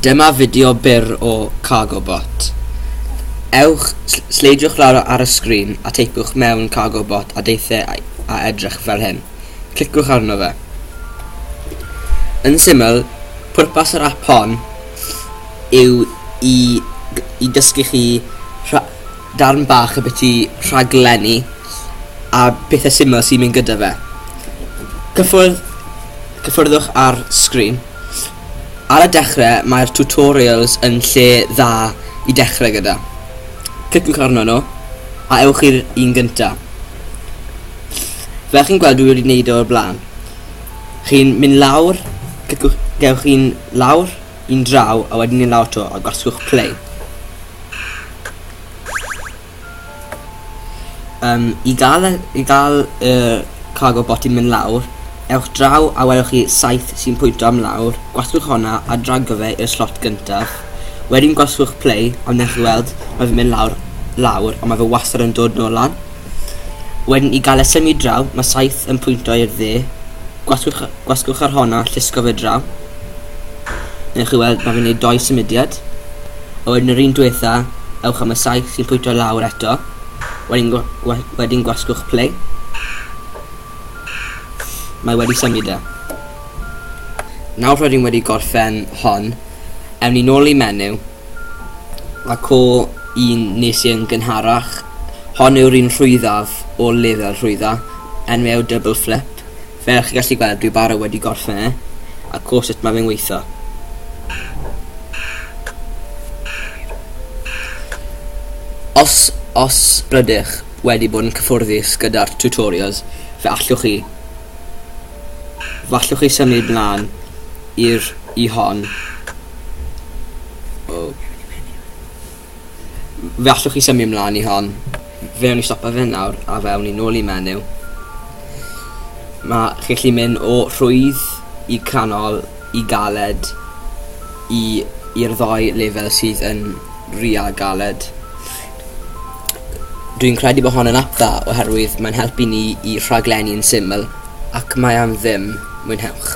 Dyma fideo byr o Cargo Bot. Ewch, sleidiwch lawr ar y sgrin a teipiwch mewn Cargo Bot a deithe a edrych fel hyn. Clicwch arno fe. Yn syml, pwrpas yr app hon yw i, i dysgu chi darn bach y beth i rhaglenni a pethau syml sy'n mynd gyda fe. Cyffwrdd, cyffwrddwch ar sgrin. Ar y dechre mae'r tutorials yn lle dda i dechre gyda. Cliciwch arnyn nhw a ewch i'r un gynta. Fel chi'n gweld dwi wedi gwneud o'r blaen. Chi'n mynd lawr, cliciwch, gewch chi'n lawr, un draw a wedyn yn lawr to a gosgwch play. Yym i ga'l y i ga'l y cargo bot yn mynd lawr ewch draw a welwch chi saeth sy'n pwynto am lawr, gwasgwch honna a drago fe i'r slot gyntaf, wedyn gwasgwch play a wnewch chi weld ma' fe'n mynd lawr lawr ond ma' fe wastad yn dod nôl lan. Wedyn i ga'l e symud draw ma' saeth yn pwynto i'r dde, gwasgwch y gwasgwch yr honna a llusgo fe draw. Newch chi weld ma' fe'n neud dou symudiad. a wedyn yr un dwetha ewch am y saith sy'n pwyto lawr eto, wedyn gwa, gwa, wedyn gwasgwch play. Mae wedi symud e. Nawr rydyn wedi gorffen hon, ewn ni nôl i menyw, a co un nes i'n gynharach, hon yw'r un rhwyddaf o lefel rhwydda, enw yw double flip, Fel chi gallu gweld dwi bara wedi gorffen e, a co sut mae fe'n weitho. Os os rydych wedi bod yn cyffwrddus gyda'r tutorials fe allwch chi fe allwch chi symud mlaen i'r i hon. Oh. Fe allwch chi symio mlaen i hon. Fe awn ni stopa fe nawr a fe awn ni nôl i menyw. Mae chi'n gallu mynd o rhwydd i canol i galed i i'r ddoi lefel sydd yn ria galed. Dwi'n credu bod hon yn ap dda oherwydd mae'n helpu ni i rhaglenni yn syml ac mae am ddim mwynhewch.